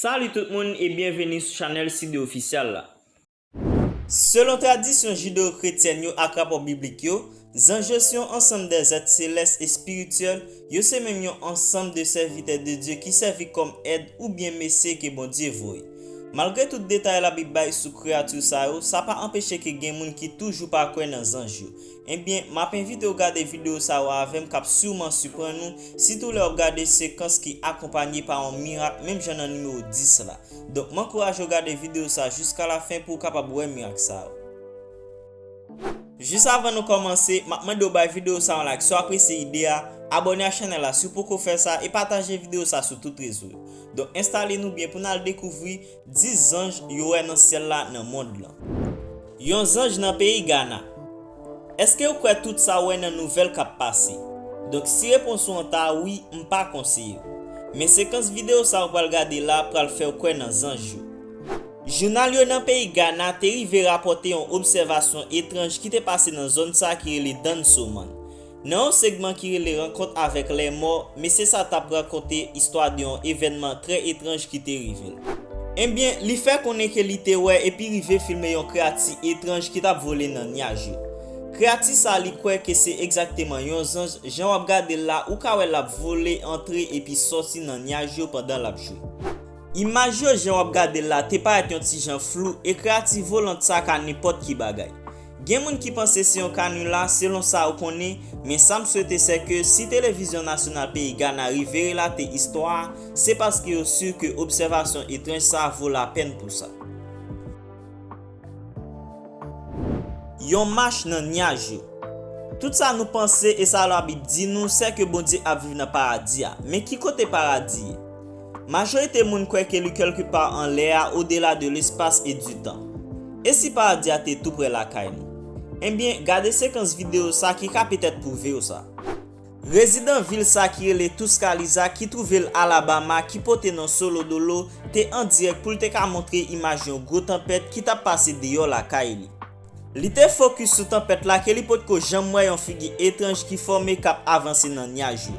Salut tout moun e byenveni sou chanèl Sidde Official la. Selon tradisyon jideo-kretyèn yo ak rapò biblik yo, Zanj yo se yon ansanm de zèt selès espirityèl, yo se menm yon ansanm de sèvitè de Dye ki sèvi kòm èd oubyen mesye ke Bondye voye. Malgre tout detay Labib bay sou kreyati sa yo, sa pa anpeche ke gen moun ki toujou pa kwè nan zanj yo. Enbyen, m ap envite w gade videyo sa yo avè m k ap siwman siprann ou, sitou lè w ap gade sekans ki akonpanye pa yon mirak menm jan nan nimewo 10 la. Donk m ankouraje w gade videyo sa jiskalafen pou w kapab wè mirak sa yo. Jis avan nou kòmanse, map mande w bay video sa yon like si w apresye ide a, abòne ak chanèl la si w poko fè sa e pataje video sa sou tout rezo yo. Donk enstale nou byen pou n al dekouvri 10 zanj yo wè nan syèl la nan mond lan. Yon zanj nan peyi Gana. Eske ou kwè tout sa w wè nan nouvèl kap pase? Donk si repons ou an ta wi m pa konseye w. Men sekans video sa ou pral gade la pral fè w kwè nan zanj yo. Jounal yo nan peyi Gana te rive rapòte yon obsèvasyon etranj ki te pase nan zòn sa ki rele Dansoman. Nan yon segman ki rele Rankont avèk Lèmò, mesye sa tap rakonte istwa de yon evènman trè etranj ki te rive l. Ebyen, li fè konnen ke li te wè epi rive filme yon kreyati etranj ki tap vole nan nyaj yo. Kreyati sa li kwè ke se egzakteman yon zanj, jan wap gade l la ou ka wè lap vole antre epi sòti nan nyaj yo pandan lap jwe. Imaj yo jan w ap gade l la te parèt yon ti jan flou e kreyati Volant sa ka nenpòt ki bagay. Gen moun ki panse se yon kanila selon sa ou konnen men sa m swete sè ke si Televizyon Nasyonal peyi Gana rive relate istwa a se paske yo si ke obsèvasyon etranj sa vo lapèn pou sa. Yon mach nan nyaj yo. Tout sa nou panse e sa Labib di nou sè ke Bondye ap viv nan Paradi a. Men ki kote Paradi ye? Majorite moun kwè ke li kèlke pa anlè a odela de lespas e di tan. E si Paradi a te tou prè lakay nou? Enbyen, gade sekans videyo sa ki ka petèt pwouve w sa. Rezidan vil sa ki rele Tuscaloosa ki twouve l Alabama ki pote non Solo Dolo te an dirèk pou l te ka montre imaj yon gwo tanpèt ki t ap pase deyò lakay li. Li te fokis sou tanpèt la ke li potko janm wè yon figi etranj ki fòme k ap avanse nan nyaj yo.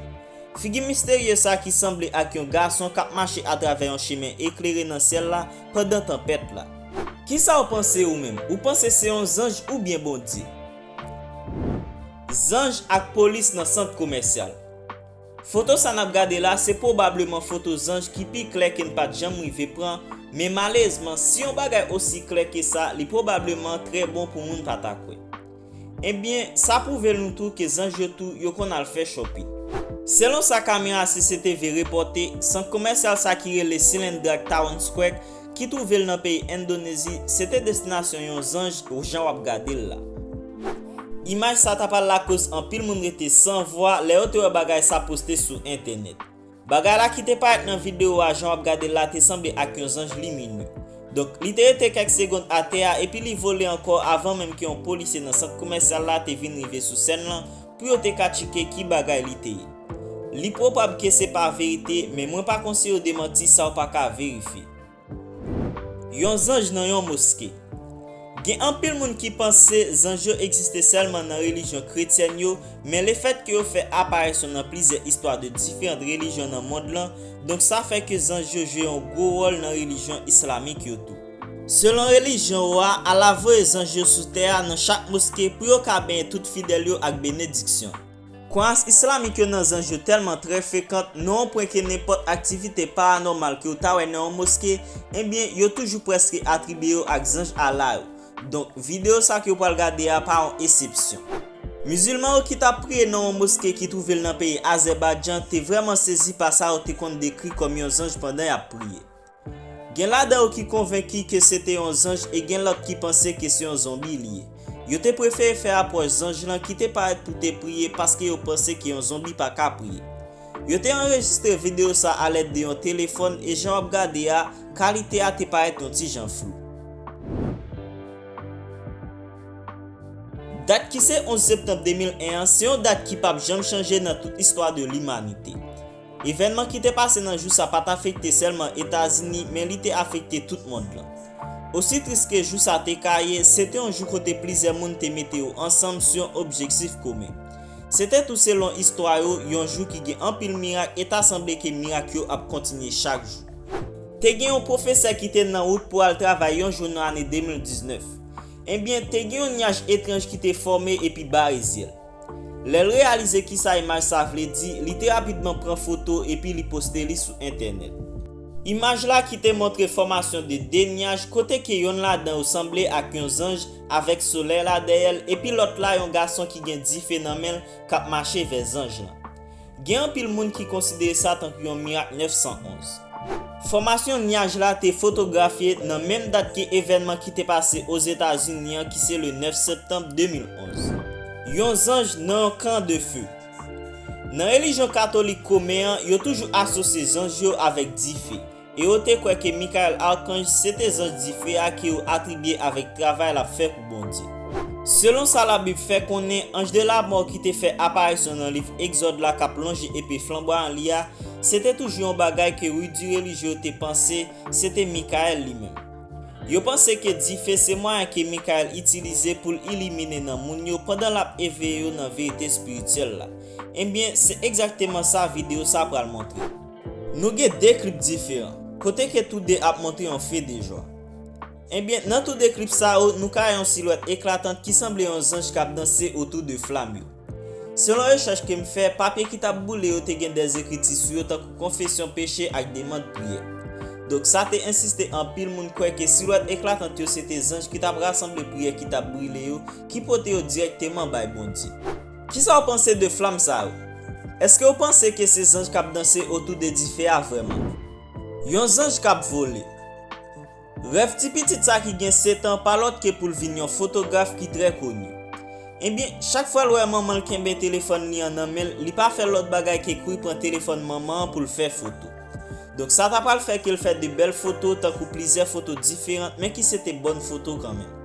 Figi misterye sa ki sanble ak yon gason k ap mache atravè yon chemen eklere nan syèl la pandan tanpèt la. Kisa w panse ou menm? Ou panse se yon zanj oubyen Bondye? Zanj ak polis nan sant komèsyal. Foto sa nap gade la se pwobableman foto zanj ki pi klè ke n pat janm rive pran, men malezman si yon bagay osi klè ke sa li pwobableman trè bon pou moun pa ta kwè. Ebyen sa pwouve l nou tou ke zanj yo tou yo konn al fè shopping. Selon sa kamera CCTV repòte, sant komèsyal sa ki rele Cilandrac Town Square ki twouve l nan peyi Endonezi, se te destinasyon yon zanj jan w ap gade l la. Imaj sa ta pral lakoz anpil moun rete san vwa lè yo te wè bagay sa poste sou entènèt. Bagay la ki te parèt nan videyo a jan w ap gade l la te sanble ak yon zanj liminye. Donk, li te rete kèk segond atè a epi li vole ankò avan menm ke yon polisye nan sant komèsyal la te vin rive sou sèn lan pou yo te ka tchike ki bagay li te ye. Li pwopab ke se pa verite men mwen pa konsiye yo demanti sa w pa ka verifye. Yon zanj nan yon moske. Gen anpil moun ki panse zanj yo egziste sèlman nan relijyon kretyèn yo men le fèt ke yo fè aparisyon nan plizyè istwa de diferant relijyon nan mond lan donk sa fè ke zanj yo jwe yon gwo wòl nan relijyon islamik yo tou. Selon relijyon ou a, Allah voye zanj yo sou tè a nan chak moske pou yo ka benyen tout fidèl yo ak benediksyon. Kwayans islamik yo nan zanj yo tèlman trè frekant nan yon pwen ke nenpòt aktivite paranòmal ke ou ta wè nan yon moske, enbyen yo toujou prèske atribye yo ak zanj Allah yo. Donk, videyo sa ke ou pral gade a pa yon esepsyon. Mizilman yo ki t ap priye nan yon moske ki twouve l nan peyi Azèbaydjan te vrèman sezi pa sa yo te konn dekri kòm yon zanj pandan y ap priye. Gen ladan yo ki konvenki ke se te yon zanj e gen lòt ki panse ke se yon zonbi li ye. Yo te prefere fè apwòch zanj lan ki te parèt pou te priye paske yo panse ke yon zonbi pa ka priye. Yo te anrejistre videyo sa a lèd de yon telefòn e jan w ap gade a, kalite a te parèt yon ti jan flou. Dat ki se 11 septanm 2001 an se yon dat ki pap janm chanje nan tout istwa de limanite. Evènman ki te pase nan jou sa pa t afekte sèlman Etazini men li te afekte tout mond lan. Osi tris ke jou sa te ka ye, se te yon jou kote plizyè moun te mete yo ansanm sou yon objektif komen. Se te tou selon istwa yo, yon jou ki gen anpil mirak e ta sanble ke mirak yo ap kontinye chak jou. Te gen yon pwofesè ki te nan wout pou al travay yon jou nan ane 2019. Enbyen, te gen yon nyaj etranj ki te fòme epi bare zye l. Lè l reyalize kisa imaj sa vle di, li te rapidman pran foto epi li poste li sou entènèt. Imaj la ki te montre fòmasyon de 2 nyaj kote ke yonn ladan yo sanble ak yon zanj avèk solèy la dèyè l epi lòt la yon gason ki gen dife nan men l k ap mache vè zanj lan. Gen anpil moun ki konsidere sa tankou yon mirak 911. Fòmasyon nyaj la te fotografye nan menm dat ke evènman ki te pase Ozetazini an ki se le 9 septanm 2011. Yon zanj nan yon kan de fe. Nan relijyon katolik komen an, yo toujou asosye zanj yo avèk dife. E yo te kwè ke Mikayèl Arkanj se te zanj dife a ke yo atribye avèk travay l ap fè pou Bondye. Selon sa Labib fè konnen, anj de lamò ki te fè aparisyon nan liv Egzòd la k ap lonje epe flanbwayan li a, se te toujou yon bagay ke rudi relijye yo te panse se te Mikayèl li menm. Yo panse ke dife se mwayen ke Mikayèl itilize pou l ilimine nan moun yo pandan l ap eveye yo nan verite espirityèl la. Enbyen, se egzakteman sa videyo sa pral montre. Nou gen 2 klip diferan, kote ke tou 2 ap montre yon fe de jwa. Enbyen, nan tou 2 klip sa yo, nou ka wè yon silwèt eklatant ki sanble yon zanj k ap danse otou de flam yo. Selon rechèch ke m fè, papye ki t ap boule yo te gen des ekriti sou yo tankou konfesyon peche ak demand priyè. Donk sa te ensiste anpil moun kwè ke silwèt eklatant yo se te zanj ki t ap rasanble priyè ki t ap brile yo ki pote yo dirèkteman bay Bondye. Kisa w panse de flam sa yo? Eske w panse ke se zanj kap danse otou de dife a vreman? Yon zanj kap vole. Rèv ti pitit sa ki gen 7 an pa lòt ke pou l vin yon fotograf ki trè koni. Ebyen, chak fwa l wè manman l kenbe telefòn li an nan men l, li pa fè lòt bagay ke kouri pran telefòn manman an pou l fè foto. Donk sa ta pral fè ke l fè de bèl foto tankou plizyè foto diferant men ki se te bòn foto kanmenm.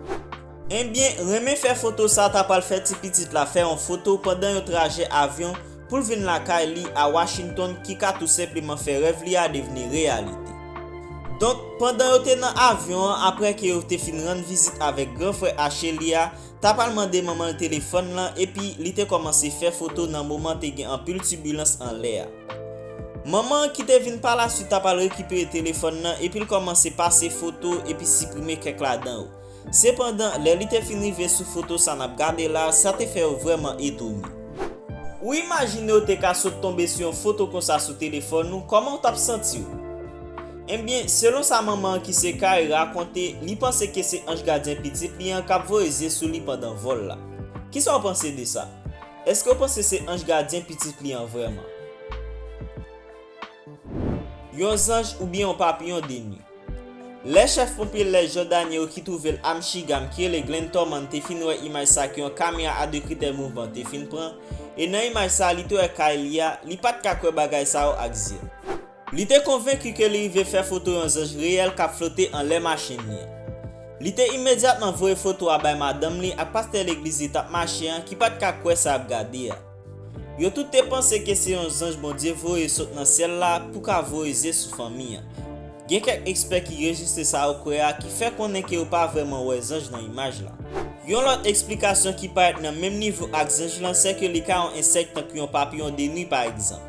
Enbyen, renmen fè foto sa ta pral fè ti pitit la fè yon foto pandan yon trajè avyon pou l vin lakay li a Washington ki ka tou senpleman fè rèv li a devni reyalite. Donk, pandan yo te nan avyon an aprè ke yo te fin rann vizit avèk gran frè ache li a ta pral mande manman l telefòn lan epi li te kòmanse fè foto nan moman te gen anpil tibilans anlè a. Manman an ki te vin palaswit ta pral rekipere telefòn lan epi l kòmanse pase foto epi siprime kèk ladan yo. Sepandan, lè li te fin rive sou foto sa n ap gade la a, sa te fè yo vrèman etone. Ou imajine w te ka sot tonbe sou yon foto konsa sou telefòn ou, kòman w t ap santi w? Enben, selon sa manman an ki se Kay rakonte, li panse ke se anj gadyen pitit li an k ap voye zye sou li pandan vòl la. Kisa w panse de sa? Èske w panse se anj gadyen pitit li an vrèman? Yon zanj oubyen yon papiyon de nwi. Lè chèf ponpye lès Jòdani yo ki twouve l a Mchigham ki rele Glenn Torman te fin wè imaj sa ke yon kamera a 2 kritè mouvman te fin pran e nan imaj sa li te wè kay li a, li pa t ka kwè bagay sa yo ak zye l. Li te konvenki ke li rive fè foto yon zanj reyèl k ap flote anlè machin li an. Li te imedyatman voye foto a bay madanm li ak pastè legliz li t ap mache an ki pa t ka kwè sa y ap gade a. Yo tout te panse ke se yon zanj Bondye voye sot nan syèl la pou ka voye zye sou fanmi an. Gen kèk ekspè ki rejistre sa yo kwè a ki fè konnen ke yo pa vrèman wè zanj nan imaj la. Yon lòt eksplikasyon ki parèt nan menm nivo ak zanj lan sè ke li ka yon ensèk tankou yon papiyon de nwi pa egzanp.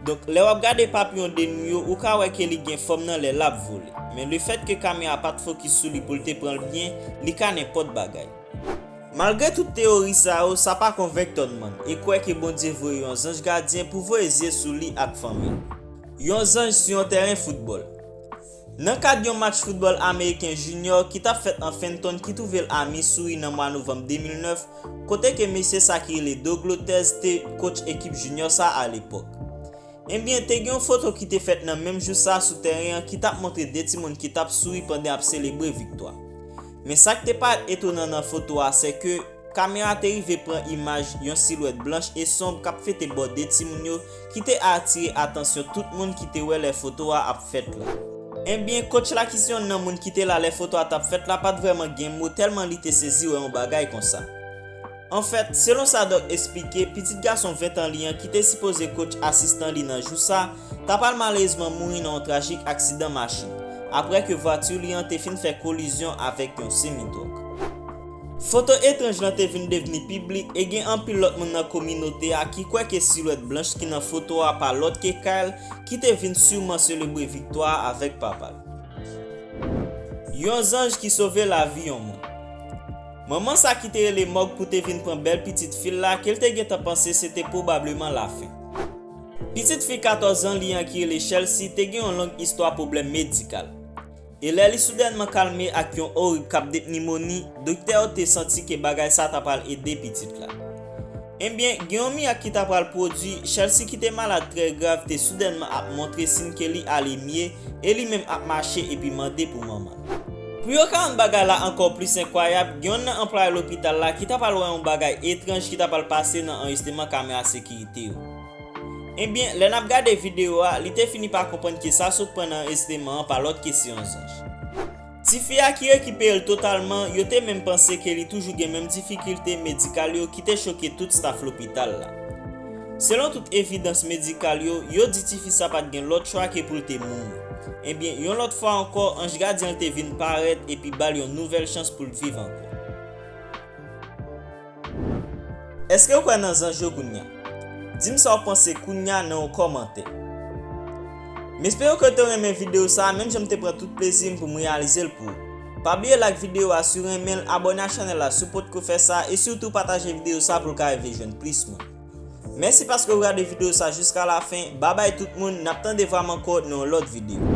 Donk, lè w ap gade papiyon de nwi yo ou ka wè ke li gen fòm nan lè l ap vole. Men lefèt ke kamera a pa t fokis sou li pou l te pran l byen, li ka nenpòt bagay. Malgre tout teyori sa yo, sa pa konvenk Tonnmann, e kwè ke Bondye voye yon zanj gadyen pou voye zye sou li ak fanmi l. Yon zanj sou yon tèren foutbòl. Nan kad yon match foutbòl ameriken jinyò ki t ap fèt an Fenton ki twouve l a Missouri nan mwa novanm 2009, kote ke mesye sa ki rele Doug Lotez te kotch ekip jinyò sa a lepòk. Enbyen, te gen yon foto ki te fèt nan menm jou sa a sou tèren an ki t ap montre de timoun ki t ap souri pandan y ap selebre viktwa. Men sa k te parèt etonan nan foto a se ke kamera te rive pran imaj yon silwèt blanch e sonb k ap fete bò de timoun yo ki te atire atansyon tout moun ki te wè lè foto a ap fèt la. Enbyen, kotch la ki se yonn nan moun ki te la lè foto a t ap fèt la pa t vrèman gen mo tèlman li te sezi wè yon bagay konsa. Anfèt, selon sa Doc esplike, pitit gason 20 tan li an ki te sipoze kotch asistan li nan jou sa, ta pral malerezman mouri nan yon trajik aksidan machin, aprè ke vwati li an te fin fè kolizyon avèk yon semi-twòk. Foto etranj lan te vin devni piblik e gen anpil lòt moun nan kominote a ki kwè ke silwèt blanch ki nan foto a pa lòt ke Kyle ki te vin siman selebre viktwa a avèk papa l. Yon zanj ki sove lavi yon moun. Manman sa ki te rele Mòg pou te vin pran bèl pitit fi l la ke l te gentan panse se te pwobableman lafen. Pitit fi 14 zan li an ki rele Chelsea te gen yon long istwa pwoblèm medikal. E lè li soudènman kalme ak yon orig k ap det nimoni, doktè yo te santi ke bagay sa ta pral ede pitit la. Enbyen, gen yon mirak ki ta pral pwodui, Chelsea ki te malad trè grav te soudènman ap montre sin ke li ale mye e li menm ap mache epi mande pou manman l. Pou yo ka rann bagay la ankò plis enkwayab, gen yonn nan anplwaye lopital la ki ta pral wè yon bagay etranj ki ta pral pase nan anrejsteman kamera sekirite yo. Ebyen, lè n ap gade videyo a, li te fini pa konprann ke sa sot pran nan anrejsteman an pa lòt ke se yon zanj. Tifi a ki rekipere l totalman, yo te menm panse ke li toujou gen menm difikilte medikal yo ki te choke tout staf lopital la. Selon tout evidans medikal yo, yo di tifi sa pa t gen lòt chwa ke pou l te mouri. Enbyen, yon lòt fwa ankò, anj gadyen l te vin parèt epi ba l yon nouvèl chans pou l viv ankò. Èske w kwè nan zanj yo kounya? Di m sa w panse kounya nan yon kòmantè. M espere ke w te renmen videyo sa a menm jan m te pran tout plezi m pou m reyalize l pou ou. Pa bliye like videyo a si w renmen l, abòne ak chanèl la si w potko fè sa e sitou pataje videyo sa pou l ka rive jwenn plis moun. Mèsi paske ou gade video sa jiska la fen, babay tout moun, nap tande vwam ankò nan yon lòt video.